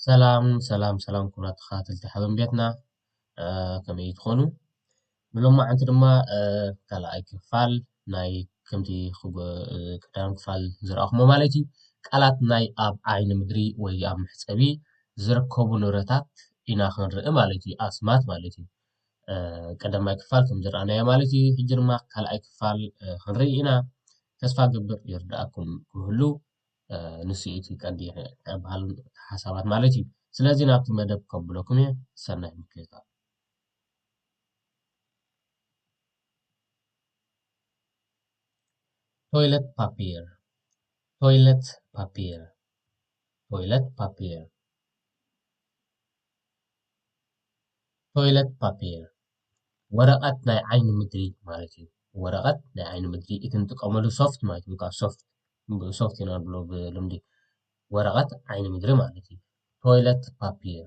ሰላም ሰላም ሰላም ክቡራት ተኸታተልቲ ሓበን ቤትና ከመይ ትኾኑ? ብሎማዓንቲ ድማ ካልኣይ ክፋል ናይ ከምቲ ቀዳም ክፋል ዝረኣኹሞ ማለት እዩ ቃላት ናይ ኣብ ዓይኒ ምድሪ ወይ ኣብ መሕጸቢ ዝርከቡ ንብረታት ኢና ክንርኢ ማለት እዩ ኣስማት ማለት እዩ ቀዳማይ ክፋል ከም ዝረኣናዮ ማለት እዩ ሕጂ ድማ ካልኣይ ክፋል ክንርኢ ኢና ተስፋ ግብር ይርዳኣኩም ክህሉ ንሱ እቲ ቀንዲ በሃል ሓሳባት ማለት እዩ ስለዚ ናብቲ መደብ ከብለኩም እየ ሰናይ ምክትታል ቶይለት ፓፒር ቶይለት ፓፒር ቶይለት ፓፒር ቶይለት ፓፒር ወረቐት ናይ ዓይኒ ምድሪ ማለት እዩ ወረቐት ናይ ዓይኒ ምድሪ እቲ ንጥቀመሉ ሶፍት ማለት እዩ ካብ ሶፍት ሶፍት ኢና ንብሎ ብልምዲ ወረቐት ዓይኒ ምድሪ ማለት እዩ ቶይለት ፓፒር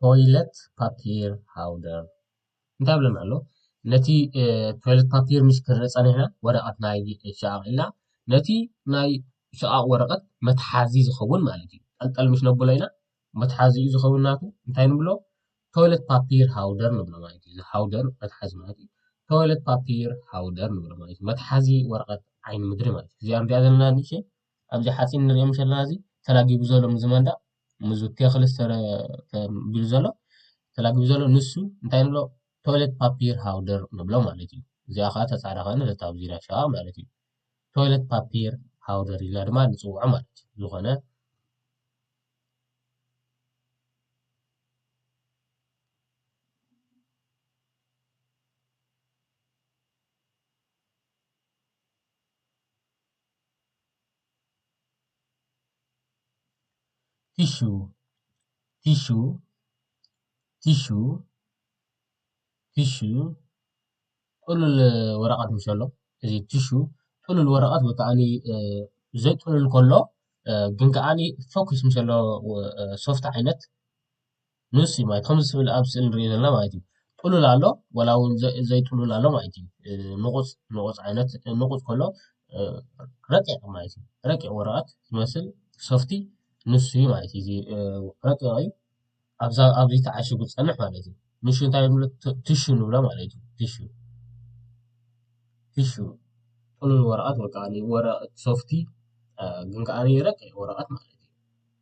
ቶይለት ፓፒር ሃውደር እንታይ ብለና ኣሎ ነቲ ቶይለት ፓፒር ምስ ክንርኢ ፀኒሕና ወረቐት ናይ ሸቓቕ ኢልና ነቲ ናይ ሸቓቕ ወረቐት መትሓዚ ዝኸውን ማለት እዩ ጠልጠል ምስ ነብሎ ኢና መትሓዚኡ ዝኸውን ናቱ እንታይ ንብሎ ቶይለት ፓፒር ሃውደር ንብሎ ማለት እዩ እዚ ሃውደር መትሓዚ ማለት እዩ ቶይለት ፓፒር ሃውደር ንብሎ ማለት እዩ መትሓዚ ወረቐት ዓይኒ ምድሪ ማለት እዩ እዚኣ ንሪኣ ዘለና ንእሽተይ ኣብዚ ሓጺን ንሪኦም ዘለና እዚ ተላጊቡ ዘሎ ምዚ መንደቕ ምዚ ቴኽሊ ተቢሉ ዘሎ ተላጊቡ ዘሎ ንሱ እንታይ ንብሎ ቶይለት ፓፒር ሃውደር ንብሎ ማለት እዩ። እዚኣ ከዓ ተጻዕዳ ኮይና ዘታ ኣብ ዙርያ ሸቓቕ ማለት እዩ። ቶይለት ፓፒር ሃውደር ኢልና ድማ ንጽውዖ ማለት እዩ። ዝኾነ ቲሹ ቲሹ ቲሹ ቲሹ ጥሉል ወረቀት ምስ በሎ እዚ ቲሹ ጥሉል ወረቀት ወይ ከዓኒ ዘይጥሉል ከሎ ግን ከዓኒ ፈኲስ ምስ ዘለዎ ሶፍቲ ዓይነት። ንሱ እዩ ማለት ከምዚ ስብል ኣብ ስእሊ ንሪኦ ዘለና ማለት እዩ ጥሉል ኣሎ ዋላ እውን ዘይጥሉል ኣሎ ማለት እዩ ንቑፅ ንቑፅ ዓይነት ንቑፅ ከሎ ረቂቕ ማለት እዩ ረቂቕ ወረቐት ዝመስል ሶፍቲ ንሱ እዩ ማለት እዩ ረቂቕ እዩ ኣብዛ ኣብዚ ተዓሽጉ ዝፀንሕ ማለት እዩ ንሹ እንታይ ንብሎ ትሹ ንብሎ ማለት እዩ ትሹ ትሹ ጥሉል ወረቐት ወይ ከዓ ወረቐት ሶፍቲ ግን ከዓ ረቂቕ ወረቐት ማለት እዩ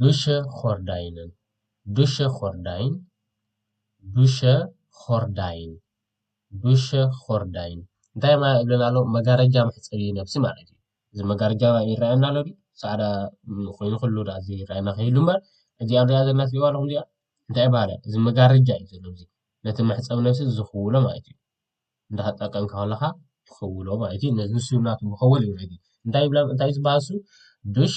ዱሸ ኾርዳይንን ዱሸ ኾርዳይን ዱሸ ኾርዳይን ዱሸ ኾርዳይን እንታይ ማለት ይብለና ኣሎ መጋረጃ መሕጸቢ ነብሲ ማለት እዩ እዚ መጋረጃ ይረኣየና ኣሎ ድዩ ጻዕዳ ኮይኑ ከሎ ድኣ ዘይረኣየና ከይህሉ እምበር እዚኣ ንርእያ ዘለና ትርእይዋ ኣለኹም እዚኣ እንታይ ይብሃል እዚ መጋረጃ እዩ ዘሎ እዚ ነቲ መሕጸቢ ነብሲ ዝኽውሎ ማለት እዩ እንዳተጠቀምካ ከለኻ ትኽውሎ ማለት እዩ ንሱ ናቱ መኸወሊ እዩ እንታይ ይብላ እንታይ እዩ ዝበሃል እሱ ዱሽ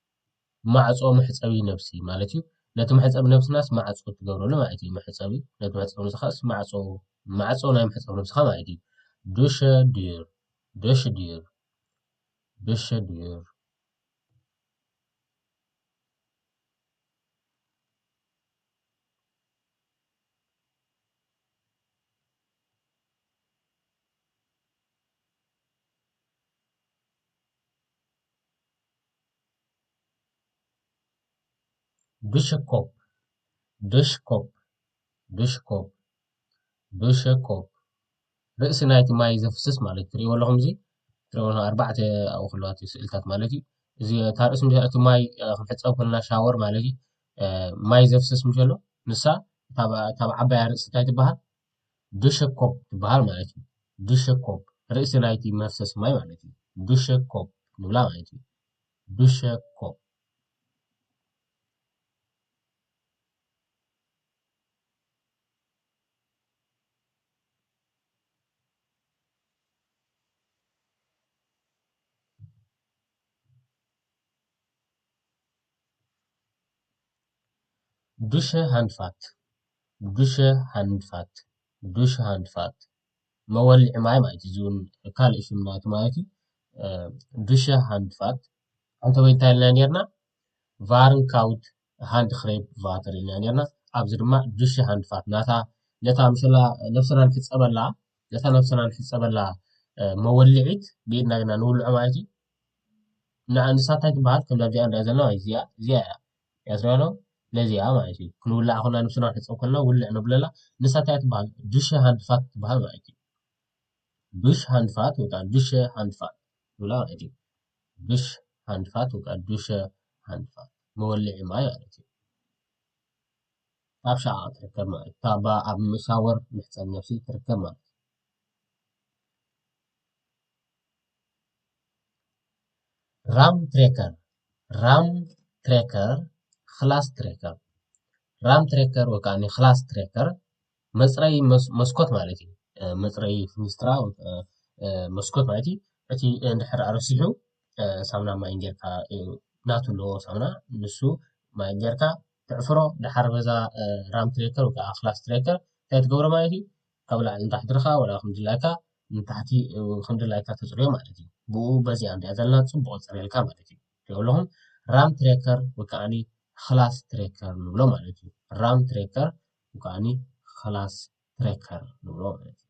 ማዕጾ መሕጸቢ ነብሲ ማለት እዩ። ነቲ መሕጸቢ ነብስናስ ማዕጾ ትገብረሉ ማለት እዩ። መሕጸቢ ነቲ መሕጸቢ ነብስኻስ ማዕጾ ማዕጾ ናይ መሕጸቢ ነብስኻ ማለት እዩ። ዱሸ ዲር ዱሸ ዲር ዱሸ ዲር ብሽኮፕ ብሽኮፕ ብሽኮፕ ብሽኮፕ ርእሲ ናይቲ ማይ ዘፍስስ ማለት እዩ። ትርእይዎ ኣለኹም እዚ ትርእይዎ ዘለኹም ኣርባዕተ ኣብኡ ክህልዋ እቲ ስእልታት ማለት እዩ። እዚ እታ ርእሲ ምስ እቲ ማይ ክንሕጸብ ከለና ሻወር ማለት እዩ። ማይ ዘፍስስ ምስ በሎ ንሳ እታ ዓባያ ርእሲ እንታይ ትበሃል? ዱሸኮፕ ትበሃል ማለት እዩ። ዱሸኮፕ፣ ርእሲ ናይቲ መፍሰሲ ማይ ማለት እዩ። ዱሸኮፕ ንብላ ማለት እዩ። ዱሸኮፕ። ዱሸ ሃንድፋት ዱሸ ሃንድፋት ዱሸ ሃንድፋት መወልዒ ማይ ማለት እዩ። እዚ እውን ካልእ ሽም ናይቲ ማለት እዩ። ዱሸ ሃንድፋት ዓንተበይ እንታይ ኢልና ነይርና? ቫርንካውት ሃንድክሬፕ ቫተር ኢልና ነይርና። ኣብዚ ድማ ዱሸ ሃንድፋት ናታ ነታ ምስላ ነብስና ንሕፀበላ ነታ ነብስና ንሕፀበላ መወልዒት ብኢድና ጌርና ንውልዖ ማለት እዩ። ንሳ እንታይ ትበሃል? ከምዛ እዚኣ ንሪኣ ዘለና ማለት እዚኣ እዚኣ እያ። ያዝናሎ ነዚ እያ ማለት እዩ ክንውላዕ ኮና ንብስና ንሕፀብ ኮና ውልዕ ነብለላ ንሳ እንታይ ትበሃል ዱሸ ሃንድፋት ትበሃል ማለት እዩ ዱሽ ሃንድፋት ወይ ከዓ ዱሸ ሃንድፋት ትብላ ማለት እዩ ዱሽ ሃንድፋት ወይ ከዓ ዱሸ ሃንድፋት መወልዒ ማይ ማለት እዩ ኣብ ሸዓ ትርከብ ማለት ካብ ኣብ ሻወር መሕፀቢ ነብሲ ትርከብ ማለት እዩ ራም ትሬከር ራም ትሬከር ክላስ ትሬከር ራም ትሬከር ወይ ከዓ ክላስ ትሬከር መፅረዪ መስኮት ማለት እዩ። መፅረዪ ፊኒስትራ መስኮት ማለት እዩ። እቲ እንድሕር ረሲሑ ሳሙናን ማይን ጌርካ ናቱ ኣለዎ ሳሙና ንሱ ማይ ጌርካ ተዕፍሮ ድሓር በዛ ራም ትሬከር ወይ ከዓ ክላስ ትሬከር እንታይ ትገብሮ ማለት እዩ። ካብ ላዕሊ ንታሕቲ ድኻ ወላ ከምድላይካ ንታሕቲ ከምድላይካ ተጽርዮ ማለት እዩ ብኡ በዚኣ እንድያ ዘላ ጽቡቕ ጽርየልካ ማለት እዩ ትሪኦ ኣለኹም ራም ትሬከር ወይ ከዓኒ ክላስ ትሬከር ንብሎ ማለት እዩ ራም ትሬከር ወይ ከዓኒ ክላስ ትሬከር ንብሎ ማለት እዩ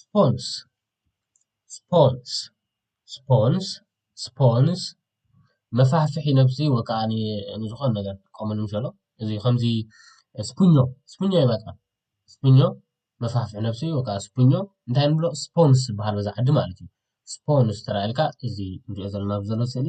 ስፖንስ ስፖንስ ስፖንስ ስፖንስ መፋሕፍሒ ነብሲ ወይ ከዓ ንዝኾነ ነገር ንጥቀመሉ እንከሎ እዚ ከምዚ ስፒኞ ስፒኞ ይመፅኣ ስፒኞ መፋሕፍሒ ነብሲ ወይ ከዓ ስፒኞ እንታይ ንብሎ ስፖንስ ይበሃል በዛ ዓዲ ማለት እዩ። ስፖንስ እንተኢልካ እዚ ንሪኦ ዘለና ኣብዚ ዘሎ ስእሊ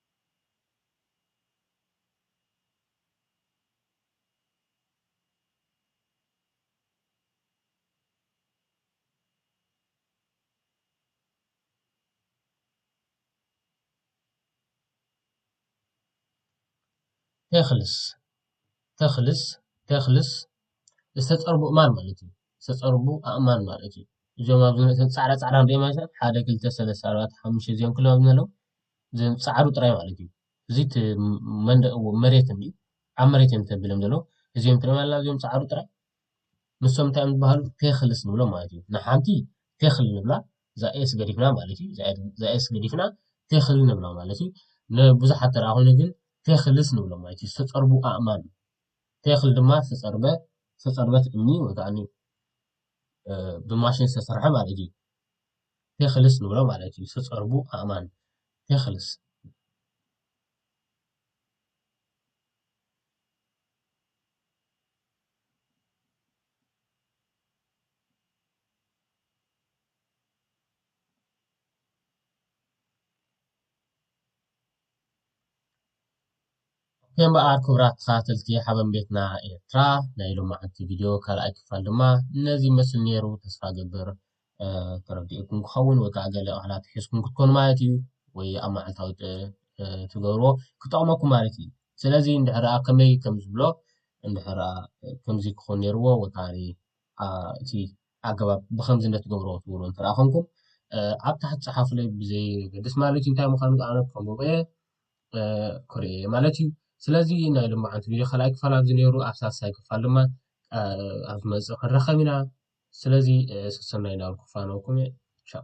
ተክልስ ተክልስ ተክልስ ዝተፀርቡ ኣእማን ማለት እዩ። ዝተፀርቡ ኣእማን ማለት እዩ። እዞም ኣብዚ ፃዕዳ ፃዕዳ እንሪኦም ዘለና ሓደ ክልተ ሰለስተ ኣርባዕተ ሓሙሽተ እዚኦም ኩሎም ኣብዚ ዘለዉ ዘም ጻዕሩ ጥራይ ማለት እዩ እዚ መንደቅ መሬት እንዲ ኣብ መሬት እዮም ተብሎም ዘሎ እዚኦም ትሪኦም ኣለና እዚኦም ጻዕሩ ጥራይ ንሶም እንታይ እዮም ዝበሃሉ ቴክልስ ንብሎም ማለት እዩ ንሓንቲ ቴክል ንብላ እዛ ኤስ ገዲፍና ማለት እዩ እዛ ኤስ ገዲፍና ቴክል ንብላ ማለት እዩ ንብዙሓት ተራ ኮይኑ ግን ቴክልስ ንብሎም ማለት እዩ ዝተጸርቡ ኣእማን ቴክል ድማ ዝተጸርበ ዝተጸርበት እምኒ ወይ ከዓ ብማሽን ዝተሰርሐ ማለት እዩ ቴክልስ ንብሎ ማለት እዩ ዝተጸርቡ ኣእማን ቴክልስ። ኦኬ እምበኣር ክቡራት ተኸታተልቲ ሓበን ቤትና ኤርትራ ናይ ሎማዓንቲ ቪድዮ ካልኣይ ክፋል ድማ ነዚ ይመስል ነይሩ ተስፋ እገብር ተረዲኡኩም ክኸውን ወይ ከዓ ገለ ቃላት ሒዝኩም ክትኮኑ ማለት እዩ ወይ ኣብ መዓልታዊ ትገብርዎ ክጠቕመኩም ማለት እዩ ስለዚ እንድሕር ከመይ ከም ዝብሎ እንድሕር ከምዚ ክኾን ነይርዎ ወይ ከዓ እቲ ኣገባብ ብከምዚ እንደትገብሮ ትብሉ እንተ ኮንኩም ኣብ ታሕቲ ፀሓፉለይ ብዘይ ገድስ ማለት እዩ እንታይ ምዃኑ ኣነ ከምብበየ ክሪኤ ማለት እዩ ስለዚ ናይ ልማዓንቲ ቪድዮ ካልኣይ ክፋል ኣብዚ ነይሩ ኣብ ሳልሳይ ክፋል ድማ ኣብ ዝመፅእ ክንራኸብ ኢና ስለዚ ሰሰናይ ናበልኩ ክፋነወኩም እየ ቻው